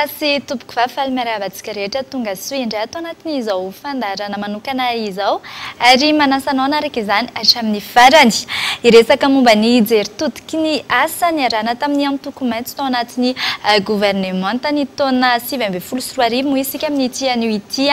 sy tompoko va faly miarahaba antsika rehetra tonga soa indray ato anatin' izao fandarana manokana izao ary manasanao anaraka izany hatramin'ny farany hiresaka momba ny jery Ky ny asa niarahana tamin'ny antoko maitso tao anatin'ny governemanta ny taona sivy ambin'ny folo sy roa arivo moa isika amin'ity anio ity.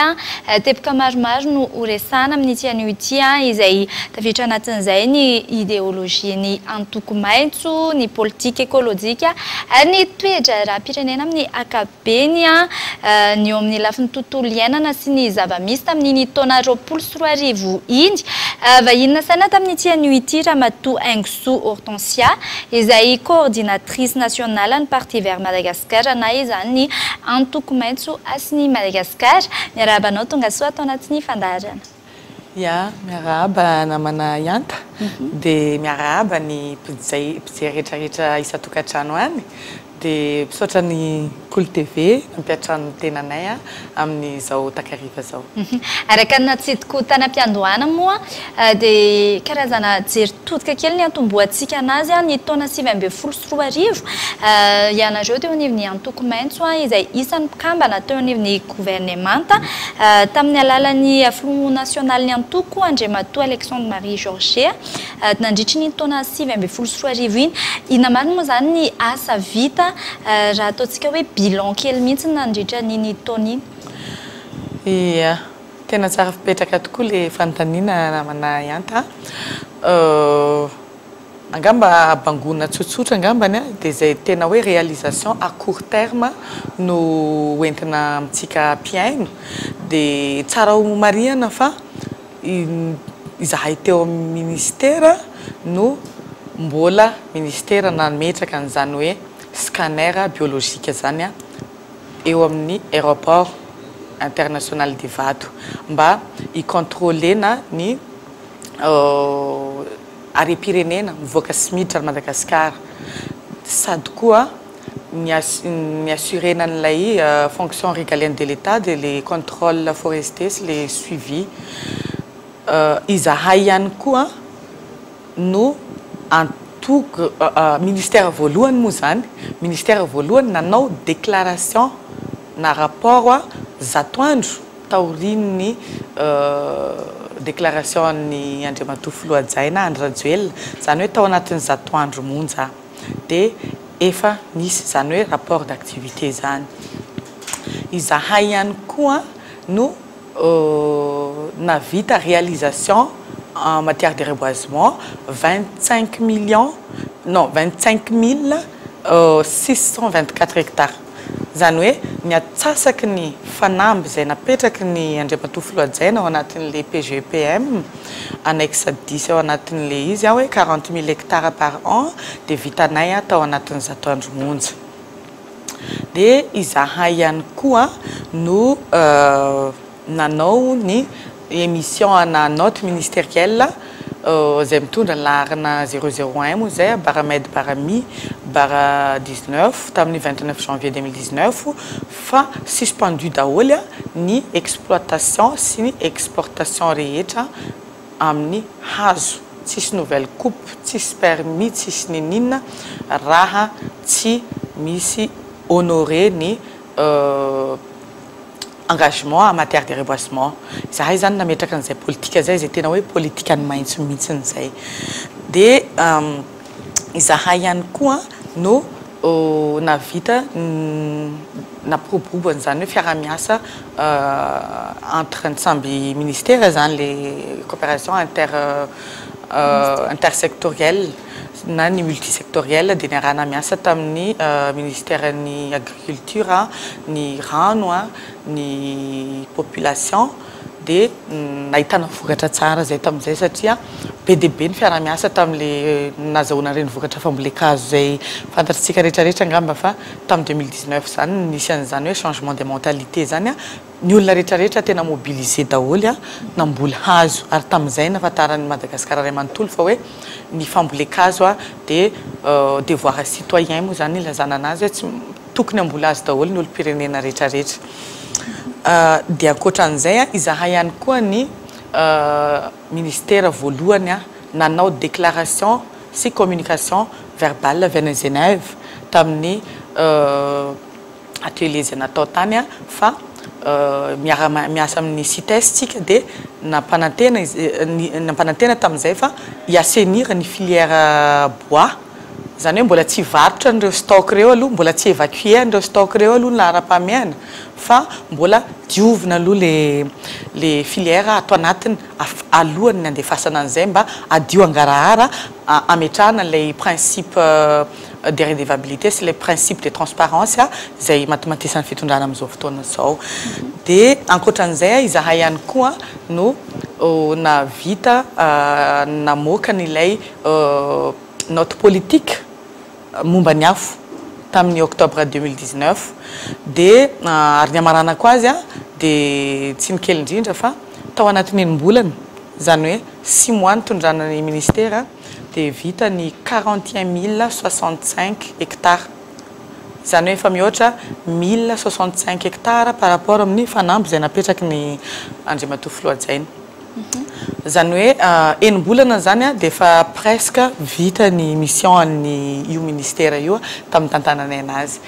Teboka maromaro no ho resahana amin'ity anio ity izay tafiditra anatin'izay ny ideolojian'ny antoko maitso, ny politika ekolojika ary ny toe-draharaham-pirenena amin'ny ankapobeny. be ny eo amin'ny lafiny tontolo iainana sy ny zava-misy tamin'iny taona roapolo sy roa arivo iny. Vahiny nasaina tamin'ity anio ity Ramatoa Haingosoa Hortensia, izay Coordinatrice Nationale-n'ny Parti Vert Madagascar na izany ny Antoko Maitso Hasin'i Madagasikara. Miarahaba anao tongasoa ato anatin'ny fandaharana. Ya, miarahaba namana Yanta, dia miarahaba ny mpizay mpijery rehetra rehetra isan-tokantrano any, dia misaotra ny Kolo TV nampiantrano ny tenanay amin'izao takariva izao. Araka ny natsidiko tany am-piandohana moa dia karazana jery todika kely ny antombohantsika anazy ny taona sivy ambin'ny folo roa arivo, ianareo teo anivon'ny antoko maitso izay isan'ny mpikambana teo anivon'ny governemanta tamin'ny alalan'ny filoha nasionalin'ny antoko Andriamatoa Alexandre Marie George nandritry ny taona sivy ambin'ny folo sy roa arivo iny. Inona marina moa izany ny asa vita raha ataontsika hoe bilan kely mihitsy nandritra an'iny taona iny? Ia, tena tsara fipetraka tokoa ilay fanontaniana namana Ihanta a. Angamba habangoana tsotsotra angambany a, dia izay tena hoe réalisation à court terme no ho entina amintsika mpihaino, dia tsara ho marihana fa izahay teo amin'ny Ministera no mbola Ministera nametraka an'izany hoe scanner biologique izany eo amin'ny Aéroport international d'Ivato mba hi-contrôler-na ny harem-pirenena mivoaka sy miditra any Madagasikara sady koa ny ny assurer-na an'ilay fonction régalienne de l'Etat dia ilay contrôle forestier sy ilay suivi. Izahay ihany koa no antoko ministère voalohany moa izany, ministère voalohany nanao déclaration na rapport zato andro. taorian'ny déclaration an'i Andriamatoa Filoha Hajaina Andry Rajoelina, izany hoe tao anatin'ny zato andro monja dia efa nisy izany hoe rapport d'activité izany. Izahay ihany koa no nahavita réalisation en matière de reboisement, vingt cinq millions non vingt cinq mille six cent vingt quatre hectares. Izany hoe ny atsasaky ny fanamby izay napetraky ny Andriamatoa Filoha hajaina ao anatin'ilay PGEPM, annexe dix ao anatin'ilay izy hoe quarante mille hectares par an dia vitanay tao anatin'ny zato andro monja. Dia izahay ihany koa no. nanao ny émission ana note ministérielle izay mitondra ny laharana zéro zéro un moa izay Bara Med Bara Mi Bara dix neuf tamin'ny vingt neuf janvier deux mille dix neuf fa suspendu daholo ny exploitation sy ny exportation rehetra amin'ny hazo tsisy nouvelle coupe tsisy permis tsisy nininona raha tsy misy honorer ny engagement en matière de reboisement, izahay izany nametraka an'izay politika izay, izay tena hoe politikan'ny maitso mihitsiny izay. Dia izahay ihany koa no nahavita nampiroborobo an'izany hoe fiaraha-miasa entre ny samby ministera izany, ilay coopération inter intersectorielle. na ny multisectoriel dia niarahana miasa tamin'ny Minisiteran'ny Agriculture, ny Rano, ny Population dia nahitana vokatra tsara izay tamin'izay satria be dia be ny fiarahamiasa tamin'ilay nazahoana an'ireny vokatra fambolen-kazo izay fantatr'tsika rehetra rehetra angamba fa tamin'ny deux mille dix-neuf izany no nisy an'izany hoe changement de mentalité izany Ny olona rehetra rehetra tena mobiliser daholo an, namboly hazo ary tamin'izay nahafantaran'ny Madagascar ray manontolo fa hoe ny fambolen-kazo an dia devoir citoyen moa izany ilazana anazy hoe tsy tokony hamboly hazo daholo ny olom-pirenena rehetra rehetra. Dia ankoatran'izay an, izahay ihany koa ny Ministera voalohany an nanao déclaration sy communication verbale avy any Genève tamin'ny atelier izay natao tany fa miara miasa amin'ny Cites tsika dia nampanantena nampanantena tamin'izay fa hi assainir ny filière bois izany hoe mbola tsy varotra an'ireo stock ireo aloha mbola tsy evacuer an'ireo stock ireo aloha ny laharam-pahamehana fa mbola diovina aloha ilay ilay filière ato anatiny alohan'ny handefasana an'izay mba hadio hangarahara hametrahana ilay principe de redevabilité sy ilay principe de transparence izay matomatisan'ny fitondrana amin'izao fotoana izao. Dia ankoatran'izay izahay ihany koa no nahavita namoaka an'ilay note politique. momba ny afo tamin'ny octobre deux mille dix neuf dia ary ny hamaranako azy dia tsy ny kely indrindra fa tao anatin'ny enim-bolana izany hoe six mois nitondrana ny ministera dia vita ny quarante et un mille soixante cinq hectares izany hoe efa mihoatra mille soixante cinq hectares par rapport amin'ny fanamby izay napetraky ny Andriamatoa Filoha Hajaina. Izany hoe enim-bolana izany dia efa presque vita ny mission an'ny io ministera io tamin'ny nitantananay anazy.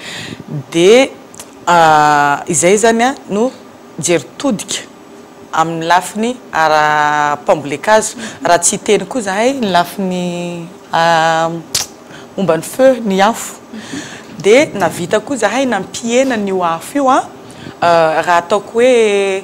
Dia izay izany no jery todika amin'ny lafiny ara-pambolen-kazo. Raha tsy hiteny koa izahay ny lafiny momba ny feu, ny afo. Dia nahavita koa izahay nampihena an'io afo io raha ataoko hoe.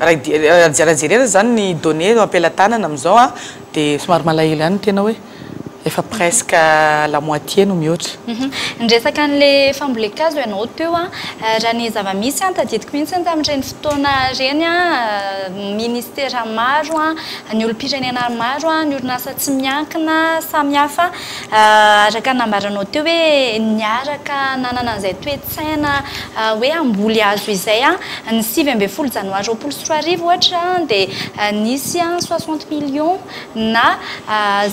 Raha jerena izany ny données ampelatanana amin'izao dia somary malahelo ihany ny tena hoe efa presque la moitié no mihoatra. Niresaka an'ilay fambolen-kazo ianao teo an, raha ny zava-misy an, tadidiko mihitsy ny tamin'ireny fotoana ireny an, ministera maro an, ny olom-pirenena maro an, ny orinasa tsy miankina samihafa araka ny nambaranao teo hoe niaraka nanana an'izay toe-. Tsahina hoe hamboly hazo izay ny sivy ambin'ny folo janoary roapolo sy roa arivo ohatra dia nisy soixante millions na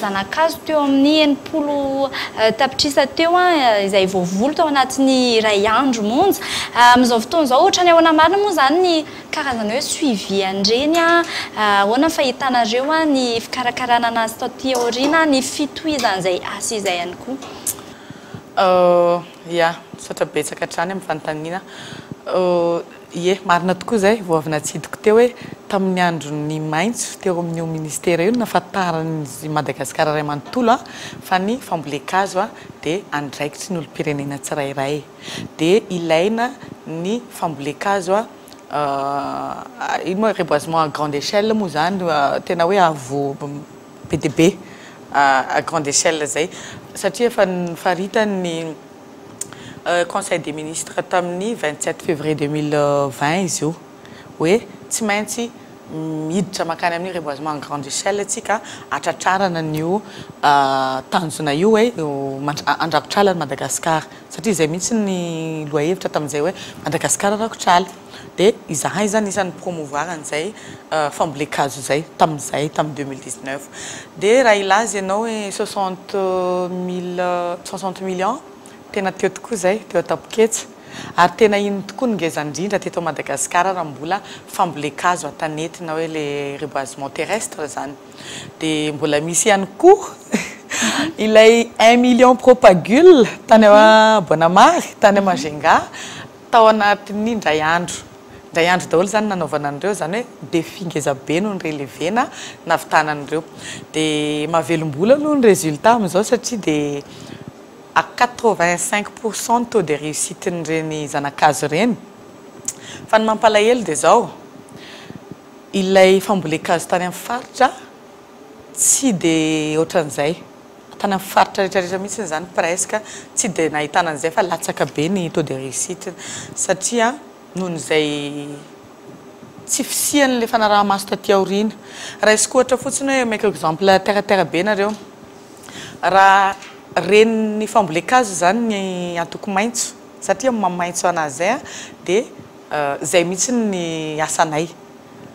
zanakazo teo amin'ny enimpolo tapitrisa teo izay voavoly tao anatin'ny iray andro monja. Amin'izao fotoana izao ohatrany ahoana marina moa izany ny karazana hoe suivi an'ireny? Ahoana ny fahitanareo ny fikarakarana an'azy taty aoriana, ny fitohizan'izay asa izay ihany koa? Ia, misaotra betsaka hatrany amin'ny fanontaniana. Ie, marina tokoa izay, vao avy natsidiko teo hoe tamin'ny andron'ny maitso teo amin'io ministera io no nahafantaran'ny Madagasikara iray manontolo fa ny fambolen-kazo dia andraikitry ny olom-pirenena tsirairay. Dia ilaina ny fambolen-kazo, ino moa, reboisement à grande échelle moa izany, tena hoe avo, be dia be à grande échelle izay satria efa nifaritany ny conseil des ministres tamin'ny vingt sept février deux mille vingt izy io hoe tsy maintsy miditra mankany amin'ny reboisement à grande échelle isika hatratrarana an'io tanjona io hoe handrakotr'ala an'i Madagasikara satria izay mihitsy ny lohahevitra tamin'izay hoe Madagasikara rakotr'ala. Dia izahay izany isan'ny ni-promouvoir an'izay fambolen-kazo izay, tamin'izay, tamin'ny deux mille dix-neuf. Dia raha hilaza ianao hoe soixante mille, soixante millions, tena teo tokoa izay, teo an-tampoketsa. Ary tena iny tokoa no ngeza indrindra teto Madagasikara raha mbola fambolen-kazo an-tanety na hoe ilay reboisement terrestre izany. Dia mbola misy ihany koa ilay un million propagule tany Boanamary, tany Majunga. Tao anatin'ny indray andro. Indray andro daholo izany nanaovana an'ireo, izany hoe défi ngeza be no ni-relever-na, nahavitana an'ireo. Dia mahavelom-bolo aloha ny résultat amin'izao satria dia à quatre vingt cinq pour cent ny taux de réussite n'ireny zana-kazo ireny. Fa ny mampalahelo dia izao, ilay fambolen-kazo tany amin'ny faritra tsy dia ohatran'izay. Tany amin'ny faritra rehetra rehetra mihitsy izany presque tsy dia nahitana an'izay fa latsaka be ny taux de réussite satria noho izay tsy fisian'ilay fanaraha-maso taty aoriana. Raisiko ohatra fotsiny hoe omeko exemple terre à terre be nareo, raha ren'ny fambolen-kazo izany ny antoko maitso satria mamaitso an'azy izay dia. Zay mihitsy ny asanay.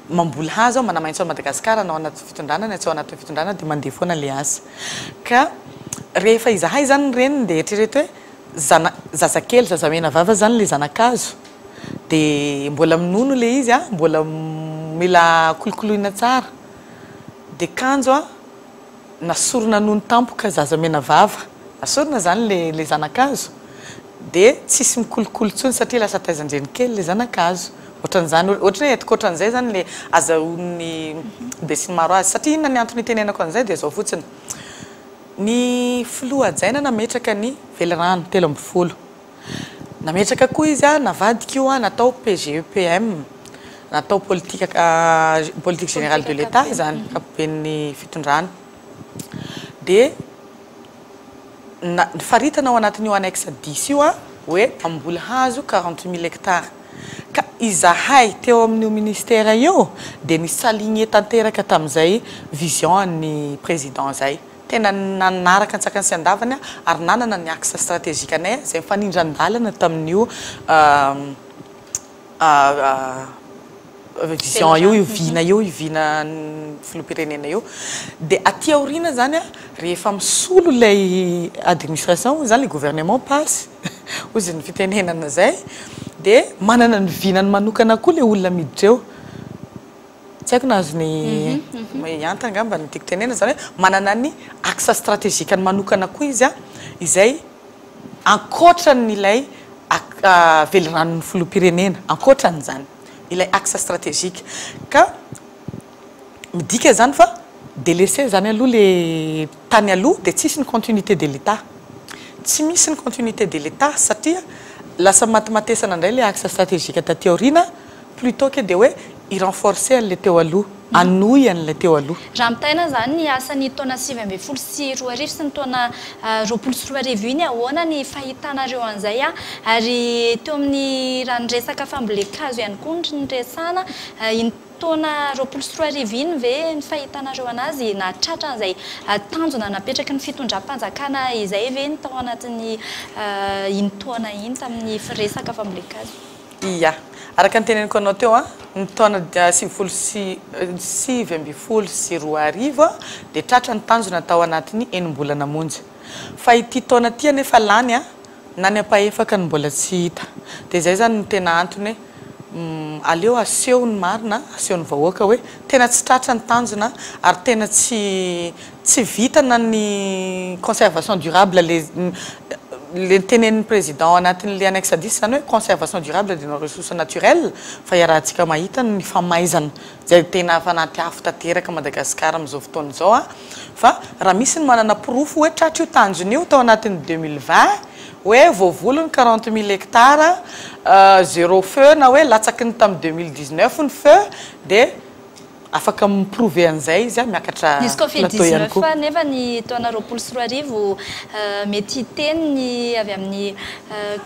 Mamboly hazo aho, manamaintso an'i Madagasikara na ao anaty fitondrana na tsy ao anatin'ny fitondrana dia mandeha foana ilay asa. Ka rehefa izahay izany ny reniny dia eritrereto hoe zana, zazakely, zazamenavava izany ilay zanakazo. Dia mbola minono ilay izy, mbola mila kolokoloina tsara. Dia kanjo an! nasorina nony tampoka zaza menavava nasorina zany le le zanakazo de tsisy mikolokolo tsony satria lasa taizandreny kely le zanakazo otranzany otran hoe hetoka otranzay zany le azahoany besinimaro azy satria inona ny antony itenenako anzay de zao fotsiny ny filoha hajaina nametraka ny velirano telo ambin'ny folo Nametraka koa izy a, navadika io a, natao PGEPM, natao politika politique générale de l'Etat izany, ankapoben'ny fitondrana. Dia na- faritana ao anatin'io annexe dix io a, hoe mpamboly hazo quarante mille hectares. Ka izahay teo amin'io ministera io dia ni-s'aligner tanteraka tamin'izay vision an'ny président izay. Tena nanaraka an-tsakany sy an-davany aho ary nanana ny axe stratégique anay izay mifanindran-dalana tamin'io vision io, io vina io, io vinan'ny filoham-pirenena io. Dia aty aoriana izany rehefa misolo ilay administration hoy izany, ilay gouvernement pas hoy izay ny fitenenana izay, dia manana ny vinany manokana koa ilay olona miditra eo. Tsy haiko na azony hianta angamba ny tiako tenenina, izany hoe manana ny axe strategique-ny manokana koa izy izay ankoatran'ilay veliranon'ny filoham-pirenena, ankoatran'izany ilay axe strategique. Ka midika izany fa délaissé izany aloha ilay tany aloha dia tsisy ny continuité de l'Etat. Tsy misy ny continuité de l'Etat satria lasa matimatesana indray ilay axe strategique taty aoriana. Plutot ke dia hoe i renforcer an'ilay teo aloha, hanohy an'ilay teo aloha. Raha mitaina izany ny asan'ny taona sivy ambin'ny folo sy roa arivo sy ny taona roapolo sy roa arivo iny ahoana ny fahitanareo an'izay an? Ary teo amin'ny raha ny resaka fambolen-kazo ihany koa no niresahana, iny taona roapolo sy roa arivo iny ve ny fahitanareo an'azy nahatratra an'izay tanjona napetraky ny fitondram-panjakana izay ve ny tao anatin'ny iny taona iny tamin'ny resaka fambolen-kazo? Ia. Araka ny teneniko anao teo, ny taona sivifolo sy sivy ambin'ny folo sy roa arivo dia tratra ny tanjona tao anatin'ny enim-bolana monja. Fa ity taona ity anefa lany na ny ampahefaka no mbola tsy hita. Dia izay izany no tena antony hoe aleo aseho ny marina, aseho ny vahoaka hoe tena tsy tratra ny tanjona ary tena tsy Tsy vita na ny conservation durable le le ntenenin'ny président anatin'le annexe hadith izany hoe conservation durable de nos ressources naturelles fa iarahantsika mahita ny famaizana izay tena fanaty afo tanteraka Madagascar amin'izao fotoana izao a! fa raha misy ny manana porofo hoe tratra io tanjona io tao anatin'ny deux mille vingt hoe voavoly ny quarante mille hectares zero feu na hoe latsaky ny tamin'ny deux mille dix neuf ny feu dia Afaka mi-prouver an'izay izy an, miakatra Misy covid plateau ihany 19 koa. anefa ny taona roapolo sy roa arivo, mety hiteny ny avy amin'ny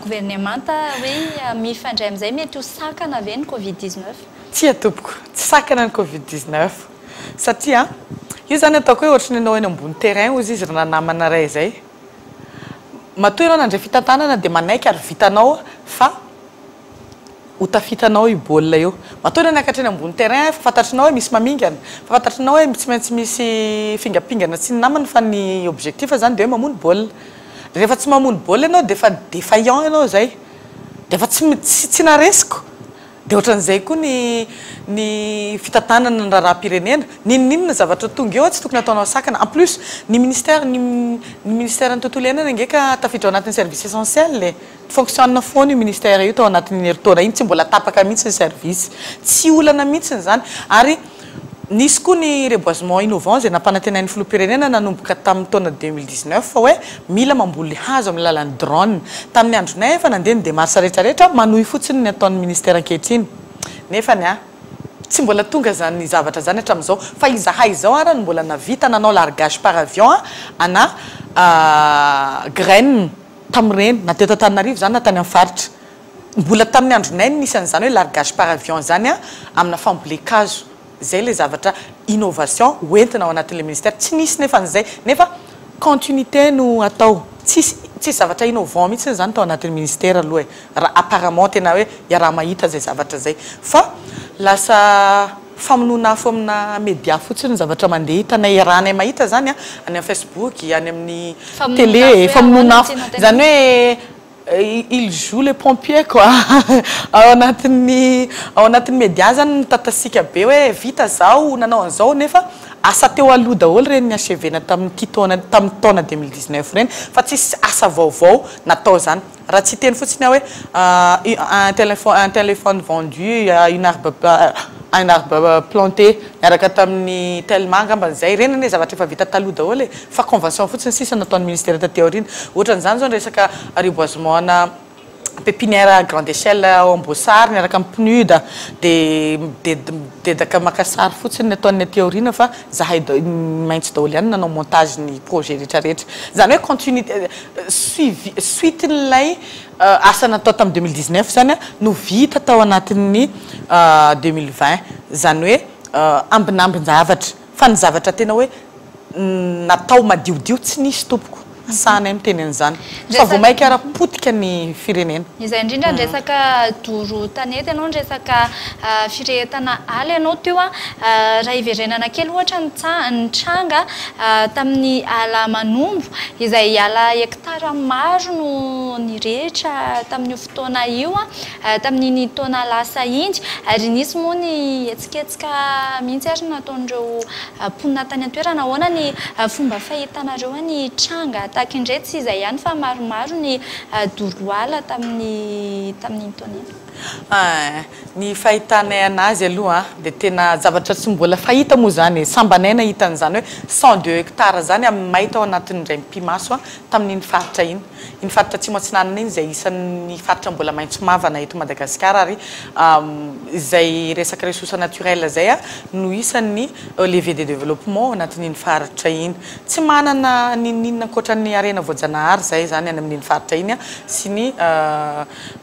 governemanta hoe mifandray amin'izay, mety ho sakana ve ny covid 19? Tsia tompoko, tsy sakana ny covid 19 satria io izany ataoko hoe ohatry ny anao eny ambony terrain ozy izy ry nanamana iray izay, matoa ianao nandray fitantanana dia manaiky ary vitanao fa. Ho tafitanao io baolina io. Matoa ianao niakatra eny ambony terrain efa fantatrinao hoe misy mamingana, efa fantatrinao hoe tsy maintsy misy fingapingana sy ny namany fa ny objectif zany de hoe mamono baolina. Rehefa tsy mamono baolina ianao de efa defaillant ianao zay. De efa tsy tsy tsy naresiko. De ohatran'izay koa ny ny fitantanana ny raharaham-pirenena. N'inon'inona zavatra tonga eo tsy tokony ataonao sakana. En plus ny ministère ny ny ministère ny tontolo iainana ange ka tafiditra ao anatin'ny service essentiel e. Fonctionne foana io ministère io tao anatin'iny herintaona iny, tsy mbola tapaka mihitsy ny service. Tsy olana mihitsy izany ary nisy koa ny reboisement innovant izay nampanantenain'ny filoham-pirenena nanomboka tamin'ny taona deux mille dix neuf fa hoe mila mamboly hazo amin'ny alalan'ny drone. Tamin'ny andronay efa nandeha ny démarche rehetra rehetra, manohy fotsiny ny ataon'ny ministère ankehitriny nefa ny ahy tsy mbola tonga izany zavatra izany hatramin'izao fa izahay izao ara no mbola nahavita nanao largage par avion ana graines. tamin'ireny, na teto Antananarivo izany na tany amin'ny faritra. Mbola tamin'ny andronay no nisy an'izany hoe largage par avion izany amina fambolen-kazo. Izay ilay zavatra innovation hoentina ao anatin'ilay ministera. Tsy nisy nefa an'izay, nefa continuité no atao. Tsisy tsisy zavatra innovant mihitsy izany tao anatin'ny ministera aloha e! Raha apparemment tena hoe iaraha-mahita izay zavatra izay. Fa lasa. famonoana afo amina media fotsiny ny zavatra mandeha hitanay iarahanay mahita izany any amin'ny facebook, any amin'ny tele, famonoana afo izany hoe il joue le pompier quoi ao anatin'ny ao anatin'ny media izany mitatasiaka be hoe vita izao, nanao an'izao nefa asa teo aloha daholo ireny ny achevena tamin'ity taona tamin'ny taona deux mille dix neuf ireny fa tsisy asa vaovao natao izany. Raha tsy hiteny fotsiny aho hoe un telephone vendu une arbre planté niaraka tamin'ny telma angambany izay. Ireny anie zavatra efa vita taloha daholo e! Fa convention fotsiny sisa nataon'ny ministera taty aoriana. Ohatran'izany izao ny resaka reboisement ana pepinière à grande échelle ao Amboasary niaraka amin'ny PNUD dia dedaka maka sary fotsiny ny ataony aty aoriana fa zahay maitso daholo ihany ny nanao montage ny projet rehetrarehetra. Izany hoe continuité Suivi, suite-n'ilay asa natao tamin'ny deux mille dix-neuf izany no vita tao anatin'ny deux mille vingt, izany hoe ambinambin-javatra, fa ny zavatra tena hoe natao madiodio tsy nisy tompoko, sahanay miteny an'izany fa vao mainka ary potika ny firenena. Izay indrindra ny resaka doro tanety ianao, ny resaka firehetana ala ianao teo, raha hiverenana kely ohatra ny nitranga. Tamin'ny ala manombo, izay ala hektara maro no nirehitra tamin'io fotoana io tamin'iny taona lasa iny, ary nisy moa ny hetsiketsika mihitsy ary nataon'ireo mponina tany an-toerana. Ahoana ny fomba fahitanareo ny tranga tahaka indray? Tsy izay ihany fa maromaro ny doro ala tamin'iny taona iny. Ny fahitanay anazy aloha an, dia tena zavatra tsy mbola fahita moa izany e, sambanay nahita an'izany hoe cent deux hectares izany amin'ny may tao anatin'ny indray mipi-maso tamin'iny faritra iny. Iny faritra Atsimo Atsinanana iny izay isan'ny faritra mbola maitso mavana eto Madagasikara ary izay resaka ressources naturelles izay no isan'ny levier de développement ao anatin'iny faritra iny. Tsy manana n'inon'inona ankoatra ny harena voajanahary izahay izany any amin'iny faritra iny sy ny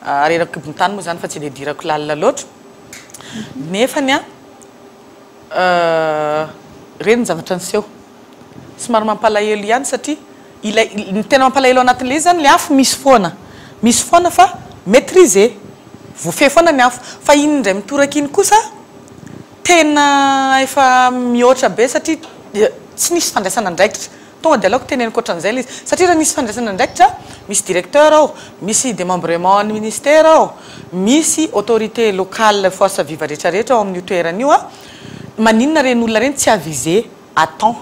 Ary eran'ny kibon-tany moa izany fa tsy idiadirako lalina loatra. Nefany an, ireny ny zavatra niseho. Somary mampalahelo ihany satria ilay, ny tena mampalahelo ao anatin'ilay izy izany ilay afo misy foana. Misy foana fa maitrisé. Voafehy foana ny afo. Fa iny indray mitoraka iny kosa tena efa mihoatra be satria tsy nisy fandraisana andraikitra. Tonga dia aleoko teneniko ohatran'izay ilay izy. Satria raha misy fandraisana andraikitra, misy directeur ao, misy démembrement an'ny ministère ao, misy autorité locale force vive rehetrarehetra ao amin'io toerana io, maninona ireny olona ireny tsy avisé à temps?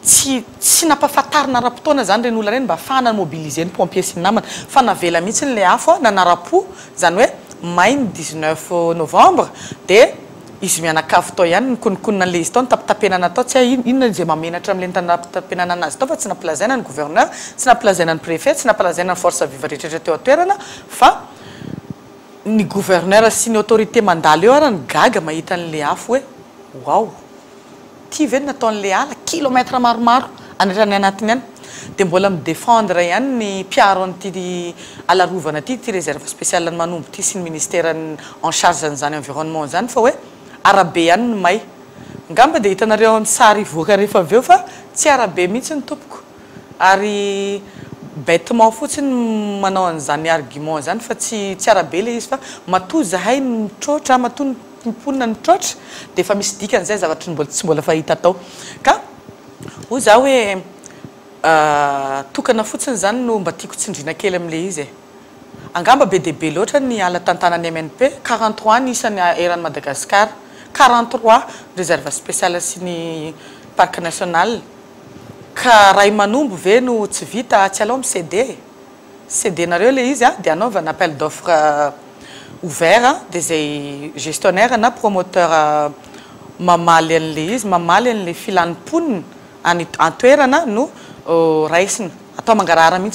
Tsy tsy nampahafantarina ara-potoana izany ireny olona ireny mba hahafahana mi-mobiliser ny pompiers sy ny namana fa navela mihitsy ilay afo nanara-po, izany hoe may ny dix neuf novembre dia. Izy mianakavy tao ihany nikonokonona an'ilay izy tao, nitapitapena natao, tsy hay inona izay mahamenatra amin'ilay nitapitapena nanazy tao fa tsy nampilazaina ny gouverneur, tsy nampilazaina ny préfet, tsy nampalazaina ny forces vives rehetrarehetra teo an-toerana fa ny gouverneur sy ny autorités mandalo eo ary ny gaga mahita an'ilay afo hoe waouh! Ty ve no nataon'le ala kilomètre maromaro an'etrany anatiny any de mbola mi défendre ihany ny mpiaro an'ity ala rovana ty, ty réserve spéciale an'i Manombo ty sy ny ministère en charge an'izany environnement zany fa hoe arabe ihany no may. Ngamba de hitanareo ny sary hivoaka rehefa avy eo fa tsy arabe mihitsy ny tompoko ary bêtement fotsiny no manao an'izany argument izany fa tsy tsy arabe le izy fa matoa zahay mitroatra matoa ny mponina ny traotra dia efa misy dikany izay zavatra mbola tsy mbola fahita tao ka hoy za hoe tokana fotsiny zany no mba tiako tsindrina kely amle izy e! Angamba be dia be loatra ny ala tantanan'ny MNP, quarante trois ny isan'ny eran'i Madagasikara, quarante trois réserve spéciale sy ny parc national ka ray manombo ve no tsy vita tsy aleo mi-ceder e! Ceder-nareo ilay izy dia anaovana appel d'offre ouvert dia izay gestionnaire na promoteur mamaly an'ilay izy, mamaly an'ilay filan'ny mponina any an-toerana no raisina. Atao mangarahara mihitsy